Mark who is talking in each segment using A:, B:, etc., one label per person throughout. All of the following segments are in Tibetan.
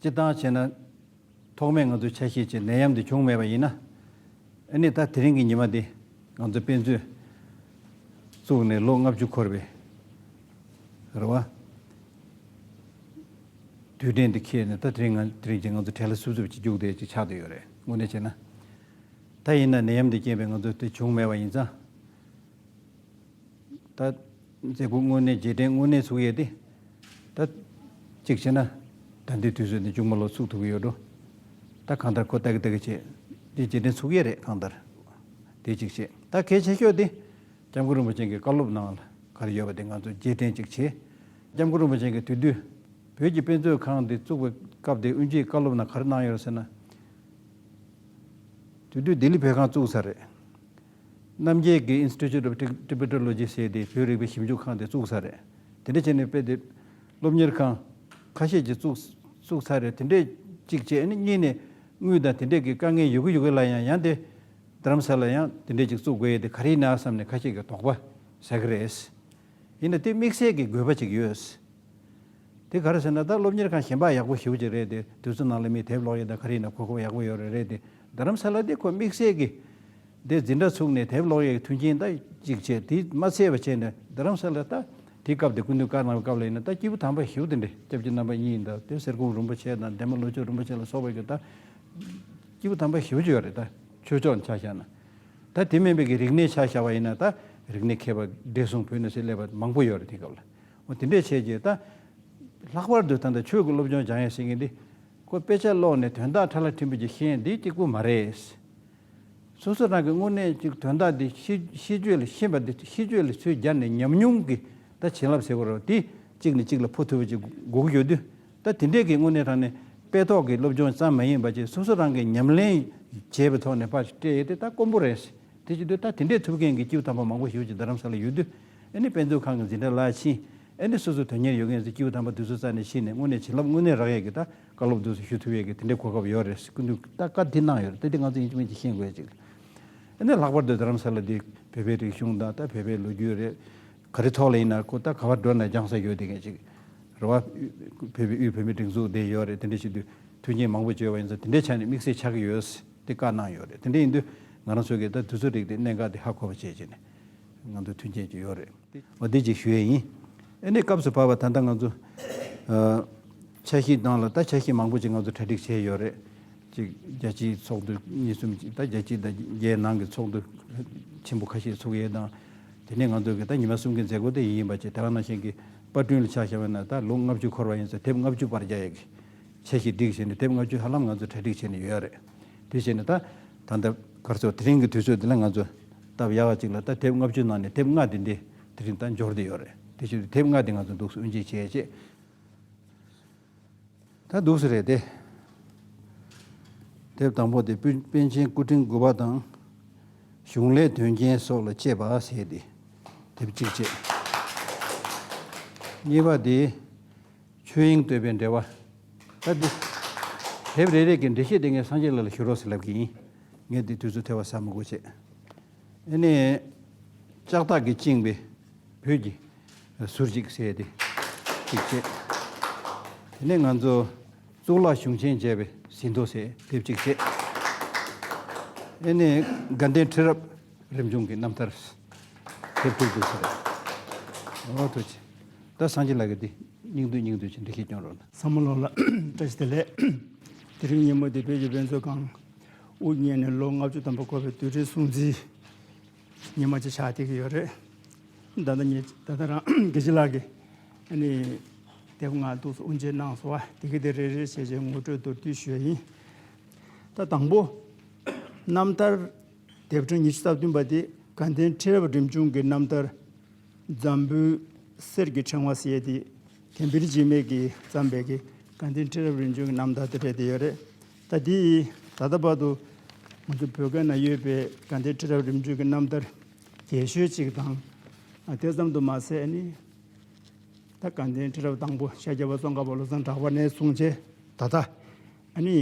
A: ཅི་སྟངས་ཞེ་ན། ཐོག་མེད་ང་ཚོའི་ཆ་ཤས་ཀྱི་ནད་ཡམས་འདི་བྱུང་མེད་པ་ཡིན། ཨ་ནི་ད་དེ་རིང་གི་ཉི་མ་འདི་ང་ཚོ་དཔེ་མཛོད་བཙུགས་ནས་ལོ་ལྔ་བཅུ་འཁོར་བའི་རེ་བ། དུས་དྲན་འདི་ཁེལ་ནས་ད་དེ་རིང་དེ་རིང་གི་ང་ཚོ་གྲལ་ལ་སུབ་སུབ་ཅིག་རྒྱུགས་བསྡད་ཅིག་ཆགས་དུ་ཡོད་རེད་དངོས་གནས་བྱས་ན། ད་ཡིན་ན་ནད་ཡམས་འདི་རྐྱེན་པས་ང་ཚོ་དེ་བྱུང་མེད་པ་ཡིན་ཙང། ད། མཛེས་སྐུ་དངོས་གནས་རྗེས་དྲན་དངོས་གནས་ཚུགས་ཡས་ཏེ། ད། གཅིག་བྱས་ན། ད་འདིའི་དུས་ཚོད་ནི་ཅུང་མ་ལོག་ཚུགས་ཐུབ་ཀྱི་ཡོད་འགྲོ། ད་གང་ལྟར་ཁོ་ལྟ་གི་ལྟ་གི་བྱས། འདི་རྗེས་དྲན་ཚུགས་ཡས་རེད་གང་ལྟར། དེ་གཅིག་བྱས། ད་གལ་ཆེ་ཤོས་དེ། ལྕམ་སྐུ་རིན་པོ་ཆེན་གྱི་བཀའ་སློབ་ནང་ལ་གར་ཡོད་པ་དེ་ང་ཚོས་རྗེས་དྲན་གཅིག་བྱས། ལྕམ་སྐུ་རིན་པོ་ཆེན་གྱི་དུས་དུས། བོད་ཀྱི་དཔེ་མཛོད་ཁང་འདི་བཙུགས་པའི་སྐབས་དེ་དབུས་འབྱེད་བཀའ་སློབ་ནང་གར་གནང་ཡོད་ཟེར་ན། དུས་དུས་ལྡི་ལི་བོད་ཁང་བཙུགས་ཚར་རེད། རྣམ་རྒྱལ་གྱིས Institute of Tibeteology ཞེས་ཏེ་བོད་རིག་པའི་ཞིབ་འཇུག་ཁང་དེ་བཙུགས་ས་རེད། དེ་འདྲ་བྱས་ནས་དཔེ་དེབ། སློབ་གཉེར་ཁང། ཁ་ཤས་ཀྱིས་བཙུགས་ཚར་རེད་དེ་འདྲས་གཅིག་བྱས་ནས་གཉིས་ནས་དངུལ་དང་དེ་འདྲས་ཀྱི་དཀའ་ངལ་ཡོད་གི་ཡོད་གི་ལ་ཡང་ཡང་དེ། དྷརམ་ས་ལ་ཡང་དེ་འདྲས་གཅིག་བཙུགས་དགོས་ཡས་དེ་ག་རེ་ཡིན་ནའ་བསམ་ནས་ཁ་ཤས་ཀྱི་དོགས་པ་ཟ་གི་རེད། ཡིན་ན་དེ་དམིགས་བསལ་གྱི་དགོས་པ་གཅིག་ཡོད། དེ་ག་རེ་ཟེར་ན་ད་སློབ་གཉེར་ཁང་གཞན་པ་ཡག་པོ་ཞིག་ཡོད་ཀྱི་རེད་དེ་དུས་ཚོད་ནང་ལ་མིས་དེབ་ཀློག་ཡས་དང་ག་རེ་ཡིན་ན་གོ་སྐབས་ཡག་པོ་ཡོད་རེད་དེ། རྡ་རམ་ས་ལ་དེ་ཁོ་དམིགས་བསལ་གྱིས་དེ་འཛིན་གྲྭ་ཚུགས་ནས་དེབ་ཀློག་ཡས་ཀྱི་མཐུན་རྐྱེན་ད་ཅིག་བྱས་དེས་མ་ཚད་པ་བྱས་ནས་རྡ་རམ་ས་ལ་ད་དེའི་སྐབས་དེ་ཀུན་ཏུ་བཀར་གནང་བའི་སྐབས་ལ་ཡིན་ན་ད་སྐྱེས་བུ་དམ་པ་ཞུགས་དེ་འདྲས་སྐྱབས་ཀྱི་རྣམ་པ་གཉིས་ཡིན་ད་དེ་གསེར་ཀོང་རུམ་པ་ཆེ་དང་འདན་མ་ལོ་ཆོས་རུམ་པ་ཆེ་ལ་སོགས་པ་གྱིས་ད་སྐྱེས་བུ་དམ་པ་ཞུགས་ཀྱི་ཡོད་རེད་ད་ཆོས་ཕྱོགས་ནས་ཆ་བཞག་ན་ད་དེ་མིན་པའི་གི་རིག་གནས་ཆ་བཞག་པ་ཡིན་ན་ད་རིག་གནས་མཁས་པ་བགྲེས་སོང་བོད་ནས་སུ་སླེབས་པ་མང་པོ་ཡོད་རེད་དེའི་སྐབས་ལ་འོ་དེ་འདྲས་བྱས་རྗེས་ད་ལྷག་པར་དུ་ད་ལྟ་ཆོས་ཀྱི་སློབ་སྦྱོང་སྦྱང་ཡས་ཟེར་མཁན་འདི་ཁོ་དཔེ་ཆ་ཀློག་ནས་དོན་དག་ཕྲ་ལ་འཕྲིན་པོ་ཅིག་ཤེས་འདི་སྐྱིད་པོ་མ་རེད། སོ་སོ་རང་གི་དངོས་གནས་ཀྱི་དོན་དག་འདི་ཤེས་རྒྱུ་ལས་ཤེས་པ་འདི་ཤེས་རྒྱུ་ལས་ཚུལ་སྦྱར་ནས་ཉམས་མྱོང་གི་ད་བྱིན་རླབས་ཟེར་བ་རོ་དེ་གཅིག་ནས་གཅིག་ལ་འཕོ་ཐུབ་པ་ཅིག་སྒུག་ཡོད་དུས་ད་དེ་འདྲས་ཀྱི་དངོས་གནས་རང་ནས་དཔེ་ཐོག་གི་སློབ་སྦྱོང་ཙམ་མ་ཡིན་པ་ཅིག་སོ་སོ་རང་གིས་ཉམས་ལེན་བྱས་པའི་ཐོག་ནས་ཕར་སྤྲད་ཡོད་དེ་ད་དཀོན་པོ་རེད། དེ་བྱེད་དུས་ད་དེ་འདྲས་ཐུབ་མཁན་གྱི་སྐྱིད་པོ་དམ་པ་མང་པོ་ཞིག་ཅིག་རྡ་རམ་ས་ལ་ཡོད་དུས། ཨེ་ནི་དཔེ་མཛོད་ཁང་གི་འཛིན་གྲྭ་བླ་ཆེན། ཨེ་ནི་སོ་སོའི་དོན་གཉེར་ཡོད་མཁན་ཚོས་སྐྱེས་བུ་དམ་པ་དུས་ཚོད་རྩ་ནས་ཕྱིན་ནས་སྔོན་ནས་བྱིན་རླབས་དངོས་གནས་རག་ཡས་ཀྱི་ད་བཀའ་སློབ་དུས་སུ་ཞུ་ཐུབ་ཡས་ཀྱི་དེ་འདྲའི་གོ་སྐབས་ཡོད་རེད་ཟེར་སྐུ་མདུན་ད་བཀའ་དེ་གནང་ཡོད་རེད་ད་དེ་ང་ཚོ་ཡིན་གཅིག་མིན་གཅིག་ཤེས་དགོས་ཅིག། ཨེ་ནི་ལྷག་པར་དུ་རྡ་རམ་ས་ལ་འདི་བོད་པའི་རིག་གཞུང་དང་ད་བོད་པའི་ལོ་རྒྱུས་རེད། ག་རེ་ཐོག་ལ་ཡིན་ན་ཁོ་ད་ག་བར་འགྲོ་ན་སྦྱང་ས་ཡོད་དེ་གས་ཅིག། རེ་བ། བོད་པའི་དབུས་བོད་མི་སྒྲིག་འཛུགས་དེ་ཡོད་རེད་དེ་འདྲ་ཞིག་དུས་མཐུན་རྐྱེན་མང་པོ་བྱོས་བ་ཡིན་ཚ་དེ་འདྲའི་ཆ་ནས་དམིགས་བསལ་ཆགས་ཀྱི་ཡོད་ཟེར་ཏེ་བཀའ་གནང་ཡོད་རེད་དེ་འདྲ་ཡིན་དུས་ང་རང་ཚོ་གས་ད་དུས་ཚོད་རིག་དེ་གནད་འགག་དེ་ཧ་གོ་བ་བྱས་རྗེས་ནས། ང་ཚོ་མཐུན་རྐྱེན་ཅིག་ཡོད་རེད། འོ་དེ་ཅིག་ཞུ་ཡས་ཡིན། ཨེ་ནས་སྐབས་སུ་བབས་པ་ད་ལྟ་ང་ཚོ། ཆ་ཤས་བཏང་ལ་ད་ཆ་ཤས་མང་པོ་ཅིག་ང་ཚོ་གྲ་སྒྲིག་བྱས་ཡོད་རེད། གཅིག་རྒྱལ་སྤྱིའི་ཚོགས་འདུ་གཉིས་གསུམ་ཅིག་ད་རྒྱལ་སྤྱི་དང་རྒྱལ་ནང་གི་ཚོགས་འདུ་ཆེན་པོ་ཁ་ཤས་ཚུགས་ཡས་དང། དེ་ནས་ང་ཚོ་གི་ད་ཉི་མ་གསུམ་གི་མཛད་སྒོ་དེ་ཡིན་ཡིན་པ་ཅིག་དེ་རང་ནང་བཞིན་གི་པར་སྐྲུན་ལ་ཆགས་བཞག་བས་ན་ད་ལོ་ལྔ་བཅུ་འཁོར་བ་ཡིན་ཚེ་དེབ་ལྔ་བཅུ་པར་རྒྱ་ཡས་ཀྱི་ཆ་ཤས་སྒྲིག་བྱས་ནས་དེབ་ལྔ་བཅུ་ཧ་ལམ་ང་ཚོ་གྲ་སྒྲིག་བྱས་ནས་ཡོད་རེད། དེ་བྱས་ནས་ད་ད་ལྟ་སྐར་ཚོགས་དེ་རིང་གི་དུས་ཚོད་འདི་ལ་ང་ཚོ། སྟབས་ཡག་གཅིག་ལ་ད་དེབ་ལྔ་བཅུ་ནང་ནས་དེབ་ལྔ་དེ་འདི་དེ་རིང་ད་འབྱོར་དེ་ཡོད་རེད་དེ་བཞིན་དུ་དེབ་ལྔ་དེ་ང་ཚོ་འདུག་སའི་དབུ་འབྱེད་བྱས་རྗེས་ད་འདུག་སའི་རེད་དེ། དེབ་དང་པོ་དེ་པཎ་ཆེན་སྐུ་ཕྲེང་དགུ་པ་དང་གཞུང་ལས་དོན་རྐྱེན་སོགས་ལ་དཔྱད་པ་ཟེར་དེ་དེབ་གཅིག་བཅས། གཉིས་པ་དེ་ཆོས་དབྱིངས་བསྟོད་པའི་འགྲེལ་བ། ད་དེབ་རེ་རེ་གི་འགྲེལ་བཤད་དེ་ངས་སངས་རྒྱས་ལགས་ལ་ཞུ་རོགས་ཟེར་ལབ་ཀྱི་ཡིན། ངས་འདི་དུས་ཚོད་ཐལ་བ་ཟ་མི་དགོས་བྱས། ཨེ་ནས། ལྕགས་ཐག་གིས་བཅིངས་པའི་བོད་ཀྱི་ཟུར་ཅིག་བསད་དེ་ཅིག་བྱས། དེ་ནས་ང་ཚོ་གཙུག་ལག་གཞུང་ཆེན་མཇལ་བའི་ཟིན་ཐོ་བསད་དེ་ཅིག་བྱས། ཨེ་ནས། དགའ་ལྡན་ཁྲི་རབས་རིམ་བྱུང་གི་རྣམ་ཐར་དེབ་ཐེར་དུ་བྱས། ཨོ་ཐུགས་ཆེ། ད་སངས་རྒྱས་ལགས་ཀྱིས་འདི་སྙིང་བསྡུས་སྙིང་བསྡུས་ཀྱི་འབྲི་ཤེས་སྐྱོང་རོགས་གནང། བསམ་བློ་ལ་བཀྲ་
B: ཤིས་བདེ་ལེགས། དེ་རིང་ཉིན་མོ་འདི་བོད་ཀྱི་དཔེ་མཛོད་ཁང། དབུ་བརྙེས་ནས་ལོ་ལྔ་བཅུ་ཙམ་འགོར་བའི་དུས་དྲན་སྲུང་བརྩི་ཉིན་མ་གཅིག་ཕྱག་འཐེན་གྱི་ཡོད་རེད། ད་ལྟ་ངེད་ད་ལྟ་རང་དགེ་བྱེད་ལགས་ཀྱིས་ནི། དེབ་ངག་འདུག་སོགས་དབུ་འབྱེད་གནང་སོང་བ་དེ་གའི་དེ་རེ་རེ་བྱས་བྱས་ངོ་སྤྲོད་མདོར་བསྡུས་ཞུ་ཡ་ཡིན། ད་དང་པོ། རྣམ་ཐར། དེབ་ཕྲེང་ཉི་ཤུ་རྩ་བདུན་པ་དེ་དགའ་ལྡན་ཁྲི་རབས་རིམ་བྱུང་གི་རྣམ་ཐར། འཛམ་བུའི་གསེར་གྱི་ཕྲེང་བ་ཞེས་ཏེ་དེ་འབིར་འཇིགས་མེད་ཀྱིས་བརྩམས་པའི་དགའ་ལྡན་ཁྲི་རབས་རིམ་བྱུང་གི་རྣམ་ཐར་དེ་རེད་དེ་ཡོད་རེད། ཟླ་འདིའི་ད་ལྟ་བར་དུ་ང་ཚོ་བོད་སྐད་ན་ཡོད་པའི་དགའ་ལྡན་ཁྲི་རབས་རིམ་བྱོན་གྱི་རྣམ་ཐར་རྒྱས་ཤོས་ཅིག་དང། དེ་ཙམ་དུ་མ་ཟད་ནི། ད་དགའ་ལྡན་ཁྲི་རབས་དང་པོ་ཤཱཀྱ་པ་ཙོང་ཁ་པ་བློ་བཟང་གྲགས་པ་ནས་བཟུང་སྟེ་ད་ལྟ། ནི།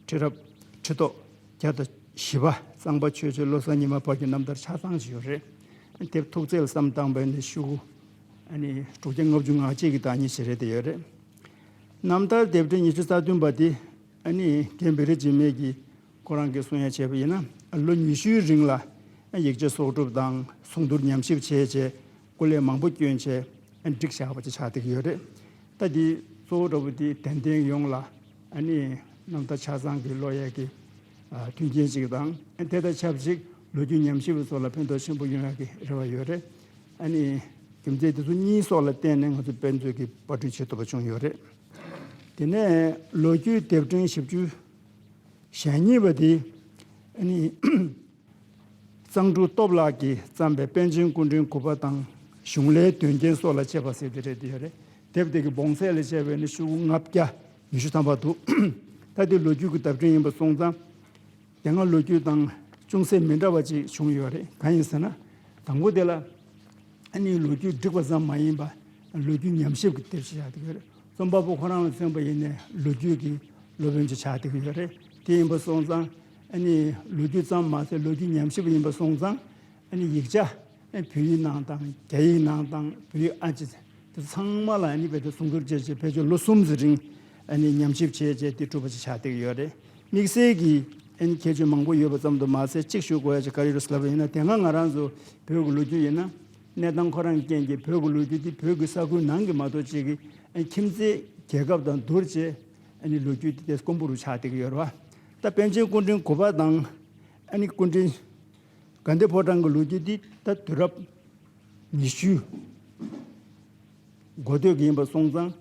B: ཁྲི་རབས་ཁྲི་ཐོག་བརྒྱ་དང་བཞི་པ་གཙང་པ་ཆོས་རྗེ་བློ་བཟང་ཉི་མ་བར་གྱི་རྣམ་ཐར་ཆ་ཚང་ཞིག་ཡོད་རེད། དེབ་ཐུགས་བརྩེ་ལ་བསམ་བཏང་པའི་ནི་ཤུགས། དྲུག་བརྒྱ་ལྔ་བཅུ་ང་གཅིག་གི་དང་གཉིས་བྱེད་རེ་དེ་ཡོད་རེད། རྣམ་ཐར་ལྡེབ་གྲོལ་ཉི་ཤུ་རྩ་བདུན་པ་དེ་ནི་རྒན་བེ་རི་འཇིགས་མེད་ཀྱིས་ཁོ་རང་གིས་གསུང་ཡ་བྱས་པ་ཡིན་ན་ལོ་ཉི་ཤུའི་རིང་ལ་ཡིག་ཆ་གསོག་སྒྲུབ་དང་གསུང་བསྡུར་ཉམས་ཞིབ་བྱས་རྗེས་སྐུ་ལས་མང་པོ་བསྐྱོན་རྗེས་བསྒྲིགས་བཞག་པ་ཅིག་ཆགས་བསྡད་ཀྱི་ཡོད་རེད། ད་འདི་གཙོ་བོ་འདྲ་བོ་འདི་དད་ལྡན་ཡོངས་ལ་རྣམ་ཐར་ཆ་ཚང་གི་བློ་ཡས་ཀྱི་མཐུན་རྐྱེན་ཅིག་དང་དེ་དང་ཆབས་ཅིག་ལོ་རྒྱུས་ཉམས་ཞིབ་པ་ཚོ་ལ་ཕན་ཐོགས་ཆེན་པོ་ཡོང་ཡ་གི་རེ་བ་ཡོད་རེད། ཨ་ནི། རྒྱུ་མཚན་དེ་ཚོ་གཉིས་སོགས་ལ་བརྟེན་ནས་ང་ཚོས་དཔེ་མཛོད་ཀྱི་དཔར་སྐྲུན་བྱེད་ཐུབ་པ་བྱུང་ཡོད་རེད། དེ་ནས་ལོ་རྒྱུས་དེབ་ཕྲེང་བཞི་བཅུ། ཞེ་གཉིས་པ་དེ། ཨ་ནི། གཙང་ཕྲུག་སྟོབས་ལགས་ཀྱིས་བརྩམས་པའི་པཎ་ཆེན་སྐུ་འཕྲེང་དགུ་པ་དང་གཞུང་ལས་དོན་རྐྱེན་སོགས་ལ་དཔྱད་པ་ཟེར་དེ་རེད་དེ་ཡོད་རེད། དེབ་དེ་གི་བོངས་ཚད་ལ་དཔྱད་པས་ནི་ཤུག་ལྔ་བརྒྱ་ཉི་ཤུ་ཐམ་པ་འདུག། ད་དེ་ལོ་རྒྱུས་ཀྱི་དབ་ཕྲེང་ཡིན་པར་སོང་ཙང། དེ་སྔ་ལོ་རྒྱུས་སྟེང་ཅུང་ཟད་མི་འདྲ་བ་ཅིག་བྱུང་ཡོད་རེད་གང་ཡིན་ཟེར་ན། དང་པོ་དེ་ལ་ཨ་ནི་ལོ་རྒྱུས་སྒྲིག་པ་ཙམ་མ་ཡིན་པ་ལོ་རྒྱུས་ཉམས་ཞིབ་ཀྱི་དེབ་ཞིག་ཆགས་འདུག་རེད་རྩོམ་པ་པོ་ཁོ་རང་ལ་བརྩིངས་པ་ཡིན་ནས་ལོ་རྒྱུས་ཀྱི་སློབ་དཔོན་ཅིག་ཆགས་འདུག་ཡོད་རེད་དེ་ཡིན་པ་སོང་ཙང་ཨ་ནི་ལོ་རྒྱུས་ཙམ་མ་ཟད་ལོ་རྒྱུས་ཉམས་ཞིབ་ཡིན་པ་སོང་ཙང་ཨ་ནི་ཡིག་ཆ། བོད་ཡིག་ནང་དང་རྒྱ་ཡིག་ནང་དང་བོད་ཡིག་ཨ་ཅེ་ཚེ་དེ་ཚང་མ་ལ་ཨ་ནི་བོད་དོན་སྲུང་སྐྱོབ་བྱེད་ཆེད་བོད་ཆོས་ལོ་གསུམ་ཟི་རིང་ཨ་ནི་ཉམས་ཞིབ་བྱེད་ཅེས་དེ་གྲུབ་པ་ཞིག་ཆགས་བསྡད་ཀྱི་ཡོད་རེད་དམིགས་བསལ་གྱིས་ཨ་ནི་ཁྱད་ཆོས་མང་པོ་ཡོད་པ་ཙམ་དུ་མ་ཟད་གཅིག་ཞུ་དགོས་ཡ་ཆེ་ག་རེ་རུ་བསླབས་པ་ཡིན་ན་དེ་སྔ་ང་རང་ཚོ་བོད་ཀྱི་ལོ་རྒྱུས་ཡིན་ན་གནས་སྟངས་ཁོ་རང་རྐྱེན་གྱིས་བོད་ཀྱི་ལོ་རྒྱུས་འདི་བོད་ཀྱི་ས་ཁུལ་ནང་གི་མ་གཏོགས་ཅིག་གི་ཨ་ནི་ཁྱིམ་མཚེས་རྒྱལ་ཁབ་དང་བསྡུར་ཅེས་ཨ་ནི་ལོ་རྒྱུས་འདི་དེ་དཀོན་པོ་རུ་ཆགས་བསྡད་ཀྱི་ཡོད་རེད་བ་ད་པན་ཆེན་སྐུ་དྲིན་གོ་པ་དང་ཨ་ནི་སྐུ་དྲིན། དགའ་ལྡན་ཕོ་བྲང་གི་ལོ་རྒྱུས་འདི་ད་དུས་རབས་ཉི་ཤུའི་འགོ་སྟོད་ཀྱི་ཡིན་པར་སོང་ཙང།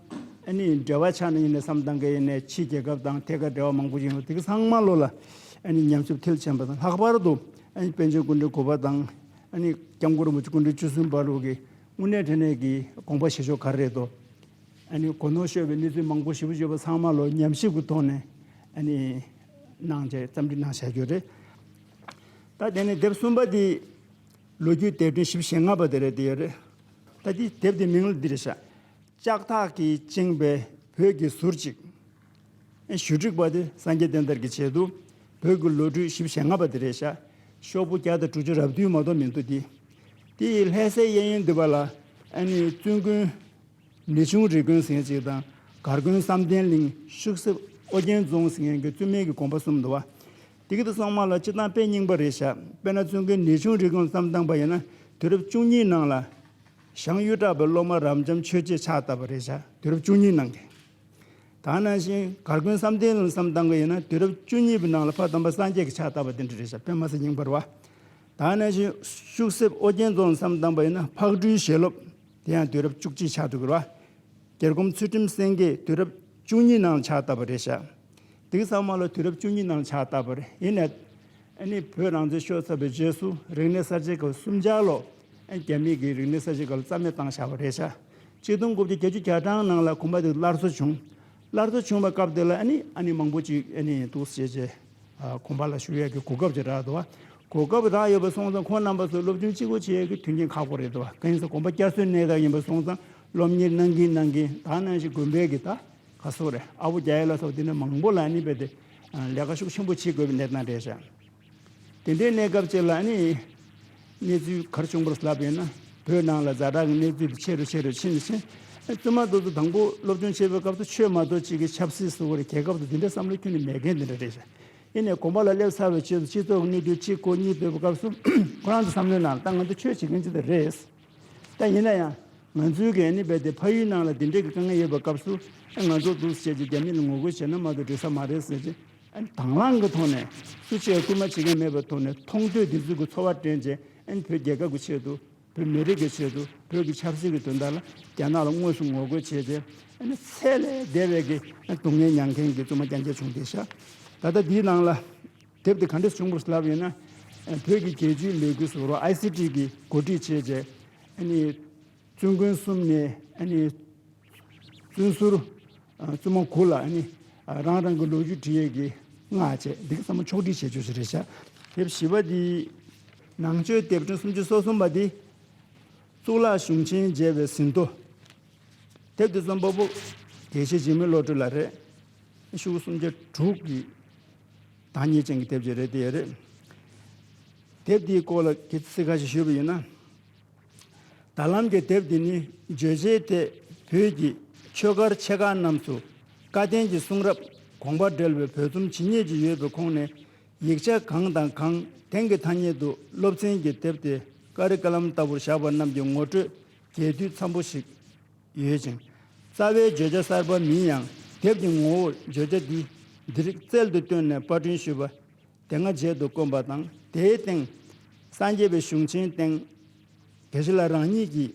B: ཨ་ནི་འབྲེལ་བ་ཆགས་ནས་ཡིན་ནས་སམ་ཏང་གི་ཡིན་ནས་ཕྱིའི་རྒྱལ་ཁབ་དང་ཐད་ཀར་འབྲེལ་བ་མང་པོ་ཞིག་ཡིན་རུང་དེ་གི་ཚང་མ་བློ་ལ་ཨ་ནི་ཉམས་ཞིབ་ཐེལ་བྱས་པ་དང་ལྷག་པར་དུ་ཨ་ནི་པན་ཆེན་སྐུ་འཕྲེང་གོ་པ་དང་ཨ་ནི་སྐྱབས་མགོན་རིན་པོ་ཆེ་སྐུ་འཕྲེང་བཅུ་གསུམ་པ་ལུགས་ཀྱི་དངོས་གནས་འཕྲིན་ལས་ཀྱི་དགོངས་པ་བཞེས་ཕྱོགས་ག་རེ་རེད་དོ། ཨ་ནི་གོ་ནོར་ཤོར་བའི་གནས་ཚུལ་མང་པོ་ཞིབ་བརྗོད་པ་ཚང་མ་བློ་ཉམས་ཞིབ་ཀྱི་ཐོག་ནས་ཨ་ནི་གནང་བྱས་བརྩམས་བྲིས་གནང་བྱས་རྒྱུ་རེད། ད་དེ་ནི་དེབ་གསུམ་པ་དེའི། ལོ་རྒྱུས་དེབ་ཕྲེང་བཞི་བཞི་ལྔ་པ་དེ་རེད་དེ་ཡོད་རེད། ད་དེའི་དེབ་དེའི་མིང་ལ་འདི་རེད་བྱ། ལྕགས་ཐག་གིས་བཅིངས་པའི་བོད་ཀྱི་ཟུར་ཅིག། ཨེ་ཞུ་སྒྲིག་པ་དེ་སངས་རྒྱས་བསྟན་དར་གྱི་ཆེད་དུ། བོད་ཀྱི་ལོ་གྲུ་བཞི་བཞི་ལྔ་པ་དེ་རེད་བྱ། ཤོག་བུ་བརྒྱ་དང་དྲུག་ཅུ་རབ་དུས་མ་གཏོགས་མི་འདུག་དེ། དེ་ཡི་ལྷས་སའི་གཡས་གཡོན་འདུས་པ་ལ། ཨ་ནི་བཙུན་དགོན། མི་ཆུང་རི་དགོན་ཟེར་ཅིག་དང། གར་དགོན་བསམ་གཏན་གླིང། ཤུག་གསེབ་ཨོ་རྒྱན་རྫོང་ཟེར་མཁན་གྱི་བཙུན་མའི་གི་དགོན་པ་གསུམ་འདུ་བ། དེ་གི་དུ་གསང་མ་ལ་སྤྱི་གཏང་དཔེ་རྙིང་པ་རེ་བཞག་དཔེ་ན་བཙུན་དགའི་ནི་ཆུང་རིགས་གང་བརྩམས་བཏང་པ་ཡིན་ན་དུས་རབས་བཅུ་གཉིས་ནང་ལ། ཞང་གཡུ་བྲག་པའི་སློབ་མ་རབ་འབྱམས་ཆོས་རྗེས་ཕྱག་བཏབ་པ་རེ་བཞག་དུས་རབས་བཅུ་གཉིས་ནང་གི། ད་ནང་བཞིན་གར་དགོན་བསམ་གཏན་ལ་བརྩམས་བཏང་གི་ཡིན་ན་དུས་རབས་བཅུ་གཉིས་པའི་ནང་ལ་ཕ་དམ་པ་སངས་རྒྱས་ཀྱིས་ཕྱག་བཏབ་པ་དེ་འདྲ་རེ་བཞག་དཔེ་མ་ཚད་རྙིང་པར་བ། ད་ནང་བཞིན་ཤུག་གསེབ་ཨོ་རྒྱན་རྫོང་ལ་བརྩམས་བཏང་པ་ཡིན་ན་ཕག་སྦྲུལ་ཞལ་སློབ། དེ་ཡང་དུས་རབས་བཅུ་གཅིག་ཕྱག་དྲུག་གི་ར་བ། གྱེར་སྒོམ་ཚུལ་ཁྲིམས་སེང་གེ་དུས་རབས་བཅུ་གཉིས་ནང་ལ་ཕྱག་བཏབ་པ་རེ་བཞག། དེང་སང་མ་ལོ་དུས་རབས་བཅུ་གཉིས་ནང་ཕྱག་བཏབ་པར་ཡིན། ཨེ་ནི་བོད་རང་བཙན་ཤོར་ཚར་བའི་རྗེས་སུ་རིག་གནས་གསར་བརྗེ་སྐབས་སུམ་བརྒྱ་ལོ། རྒྱ་མི་གིས་རིག་གནས་གསར་བརྗེ་སྐབས་རྩ་མེད་བཏང་བཞག་པ་རེད། ཆ་གཅིག་སྟོང་དགུ་བརྒྱ་བརྒྱད་ཅུ་གྱ་གྲངས་ནང་ལ་གོམ་པ་དེ་སླར་གསོ་བྱུང། སླར་གསོ་བྱུང་བ་སྐབས་དེ་ལ་ཨེ་ནི་ཨ་ནི་མང་པོ་ཅིག་ཨེ་ནི་འདུག་ཟེར་བྱས། གོམ་པ་ལ་ཞུགས་ཡས་ཀྱི་གོ་སྐབས་ཅིག་རག་དུ། གོ་སྐབས་རག་ཡོད་པ་སོང་ཙང་ཁོང་རྣམ་པ་ཚོ་སློབ་ཆུང་གཅིག་པོ་བྱས་ཡས་ཀྱི་མཐུན་རྐྱེན་ཁག་པོ་རེད་དུ། གང་ཡིན་ཟེར་གོམ་པ་བསྐྱར་གསོའི་གནད་འགག་ཡིན་པ་སོང་ཙང་སློབ་གཉེར་གནང་གིན་གནང་གིན་ད་གནང་བཞིན་དགོན་པའི་གི་ད། ཁ་སོ་རེ་ཨ་བོ་རྒྱ་ཡེ་ལ་སོགས་འདི་ནི་མང་པོ་ལ་ནི་རྦད་དེ་ལས་ཀ་ཤུགས་ཆེན་པོ་བྱེད་དགོས་པའི་གནས་སྟངས་རེད་བཞག། དེ་འདྲའི་གནས་སྐབས་ཅིག་ལ་ནི། གནས་ཚུལ་གར་བྱུང་བར་ལབ་ཡོད་ན་བོད་ནང་ལ་བཟའ་བྲག་གི་གནས་ཚུལ་དེ་ཆེ་རུ་ཆེ་རུ་ཕྱིན་ཕྱིན། བཙུན་མ་རྡོ་རྗེ་དང་པོ་སློབ་སྦྱོང་བྱེད་པའི་སྐབས་སུ་ཆོས་མ་དོར་ཅིག་གི་ཆབ་སྲིད་བཟོ་བར་གྱེས་སྐབས་སུ་འདི་འདྲའི་བསམ་བློ་ཁྱོན་ནས་མེད་མཁན་འདི་འདྲ་རེད་བཞག། ཡེ་ནས་གོམ་པ་ལ་སླེབས་ཚར་བའི་ཆེད་དུ་སྤྱི་ཚོགས་ཀྱི་གནས་ཚུལ་གཅིག་གོ་གཉིས་སྤེལ་བའི་སྐབས་སུ། ཁོ་རང་ཚོའི་བསམ་བློའི་ནང་ད་ང་ཚོ་ཆོས་བྱེད་མཁན་ཅིག་ཏུ་རེད། ད་ཡིན་ན་ཡང། ང་ཚོའི་གན་ནི་རྦད་དེ་ཕ་ཡུལ་ནང་ལ་དེ་འདྲས་ཀྱི་དཀའ་ངལ་ཡོད་པའི་སྐབས་སུ། ཨ་ང་ཚོ་འདུག་ཟེར་བྱས་ཀྱི་རྒྱ་མི་ལ་ངོ་རྒོལ་བྱས་ན་མ་གཏོགས་འགྲིག་ས་མ་རེད་ཟེར་གྱི། དྭང་བླངས་ཀྱི་ཐོག་ནས། སུ་བྱས་སུ་མ་བྱས་མཁན་མེད་པའི་ཐོག་ནས་མཐོང་ཐོས་དེ་ཚུལ་གྱི་འཚོ་བ་དྲན་རྗེས་ཨན་བོད་རྒྱལ་ཁབ་ཀྱི་ཆེད་དུ། བོད་མི་རིགས་ཀྱི་ཆེད་དུ་བོད་ཀྱི་ཆབ་སྲིད་ཀྱི་དོན་དག་ལ་རྒྱ་ནག་ལ་དངོས་སུ་ངོ་རྒོལ་བྱས་ཏེ། ཚད་ལས་འདས་པའི་ཀྱི་སྡུག་བསྔལ་མྱངས་མཁན་གྱི་བཙུན་མ་རྒྱ་མཚོ་བྱུང་སྟེ་ཤ། ད་ལྟ་དེའི་ནང་ལ། དེབ་དེ་ག་འདྲས་བྱུང་པར་ལབ་ཡོད་ན། བོད་ཀྱི་རྒྱལ་སྤྱིའི་ལས་འགུལ་སོགས་རོགས ICT གིས་གོ་སྒྲིག་བྱས་རྗེས། བཙུན་དགོན་གསུམ་ནས་བཙུན་ཟུར་བཙུན་མ་དགུ་ལ་རང་རང་གི་ལོ་རྒྱུས་འབྲི་ཡས་ཀྱི་སྔགས་བཅས་འདི་ག་ཚང་མ་ཕྱོགས་བསྒྲིགས་བྱས་ཆོག་ཞེས་རེ་བྱ། དེབ་བཞི་པ་འདི། ནང་ཆོས་དེབ་ཕྲེང་སུམ་ཅུ་སོ་གསུམ་པ་འདི། གཙུག་ལག་གཞུང་ཆེན་མཇལ་བའི་ཟིན་ཐོ། དེབ་འདི་རྩོམ་པ་པོ་དགེ་བཤེས་འཇིགས་མེད་བློ་གྲོས་ལགས་རེད། ཤུག་གསུམ་བརྒྱ་དྲུག་གིས། དང་ཉེས་ཅན་གྱི་དེབ་ཅིག་རེད་དེ་ཡོད་རེད། དེབ་དེའི་སྐོར་ལ་གི་ཚིག་ཁ་ཤས་ཞུ་བ་ཡིན་ན། ད་ལམ་གྱི་དེབ་དེ་ནི་བརྗོད་བྱའི་ཐད་བོད་ཀྱི་ཆོས་སྒར་ཆེ་ཁག་རྣམས་སུ་བཀའ་བསྟན་གྱི་གསུང་རབ་དགོངས་པ་འགྲེལ་བའི་བོད་རྩོམ་ཇི་སྙེད་ཅིག་ཡོད་པའི་ཁོངས་ནས་ཡིག་ཆ་གང་དང་གང་དེང་གི་ཐ་སྙད་དུ་སློབ་ཚན་གྱི་དེབ་སྟེ་ཀ་རི་ཀ་ལམ་ལྟ་བུར་བཞག་པ་རྣམས་ཀྱི་ངོ་སྤྲོད་རྒྱས་བསྡུས་འཚམ་པོ་ཞིག་ཡོད་ཅིང། རྩ་བའི་བརྗོད་བྱ་གསར་པ་མིན་ཡང་དེབ་ཀྱི་ངོ་བོར་བརྗོད་བྱ་འདི་འདི་རིགས་རྩལ་དུ་བཏོན་ནས་པར་སྐྲུན་ཞུས་པ། དེ་སྔ་མཇལ་དུ་དཀོན་པ་དང་དེའི་སྟེང། སངས་རྒྱས་པའི་གཞུང་ཆེན་སྟེང། དེ་བཞི་ལ་རང་ཉིད་ཀྱིས།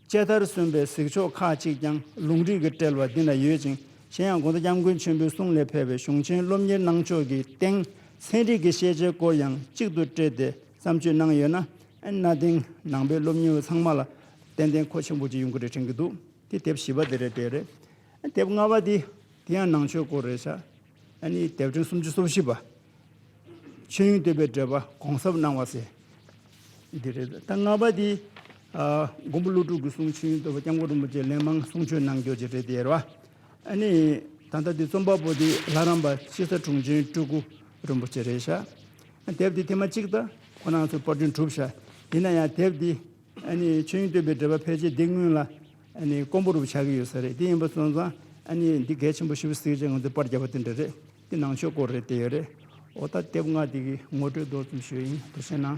B: དཔྱད་མཐར་སོན་པའི་གཟིགས་ཕྱོགས་ཁ་ཅིག་ཀྱང་ལུང་རིགས་ཀྱི་དཔྲལ་བ་འདི་ན་ཡོད་ཅིང་གཞན་ཡང་དགོངས་གཏེར་སྐྱབས་མགོན་ཆེན་པོའི་གསུང་ལས་ཕེབས་པའི་གཞུང་ཆེན་སློབ་གཉེར་གནང་ཕྱོགས་ཀྱི་སྟེང་ཚན་རིག་གི་ཤེས་བྱའི་སྐོར་ཡང་གཅིག་ཏུ་སྤྲེལ་ཏེ་བརྩམས་ཆོས་གནང་ཡོད། གནའ་དེང་ནང་པའི་སློབ་གཉེར་བ་ཚང་མ་ལ་ཏན་ཏན་ཁོ་ཆེན་པོ་གཅིག་ཡོང་གི་རེད་དྲན་གི་འདུག་དེ་དེབ་བཞི་པ་དེ་རེད་དེ་རེད། དེབ་ལྔ་བ་དེ་དེ་ཡང་ནང་ཆོས་སྐོར་རེད་ཤག་ཨ་ནི་དེབ་ཕྲེང་སུམ་ཅུ་སོ་བཞི་པ། ཆོས་དབྱིངས་བསྟོད་པའི་འགྲེལ་པ་གོང་ཟབ་སྣང་བ་ཟེར་དེ་རེད། ད་ལྔ་བ་དེ། མགོན་པོ་ཀླུ་སྒྲུབ་ཀྱི་གསུང་ཆོས་དབྱིངས་བསྟོད་པ་སྐྱབས་མགོན་རིན་པོ་ཆེ་ལན་མང་གསུང་ཆོས་གནང་འགྱོ་ཅིག་རེད་དེ་རེད། ཨ་ནི་ད་ལྟ་དེ་རྩོམ་པ་པོ་དེ་ལྷ་རམས་པ་དཔྱིད་ས་དྲུང་ཆེན་སྤྲུལ་སྐུ་རིན་པོ་ཆེ་རེད་ཤག་ཨ་དེབ་དེ་དེ་མ་གཅིག་ད་ཁོ་ནང་ཚོས་དཔར་སྐྲུན་གྲུབ་ཤག་ཡིན་ན་ཡང་དེབ་དེ། ཆོས་དབྱིངས་སྟོན་པའི་འགྲེལ་པ་ཕལ་ཆེར་འདི་སྔོན་ལ། ཀོང་པོ་རུ་བ་ཆགས་ཀྱི་ཡོད་ས་རེད་དེ་ཡིན་པ་སོང་ཙང། འདི་གལ་ཆེན་པོ་ཞིབ་གཟིགས་བྱས་ང་ཚོས་པར་བརྒྱབ་པ་དེ་འདྲ་རེད། དེ་ནང་ཆོས་སྐོར་རེད་བལྟས་ཡོད་རེད། འོ་ད་དེབ་ལྔ་དེ་གི་ངོ་སྤྲོད་མདོར་ཙམ་ཞུས་ཡིན་དུ་བཤད་ན།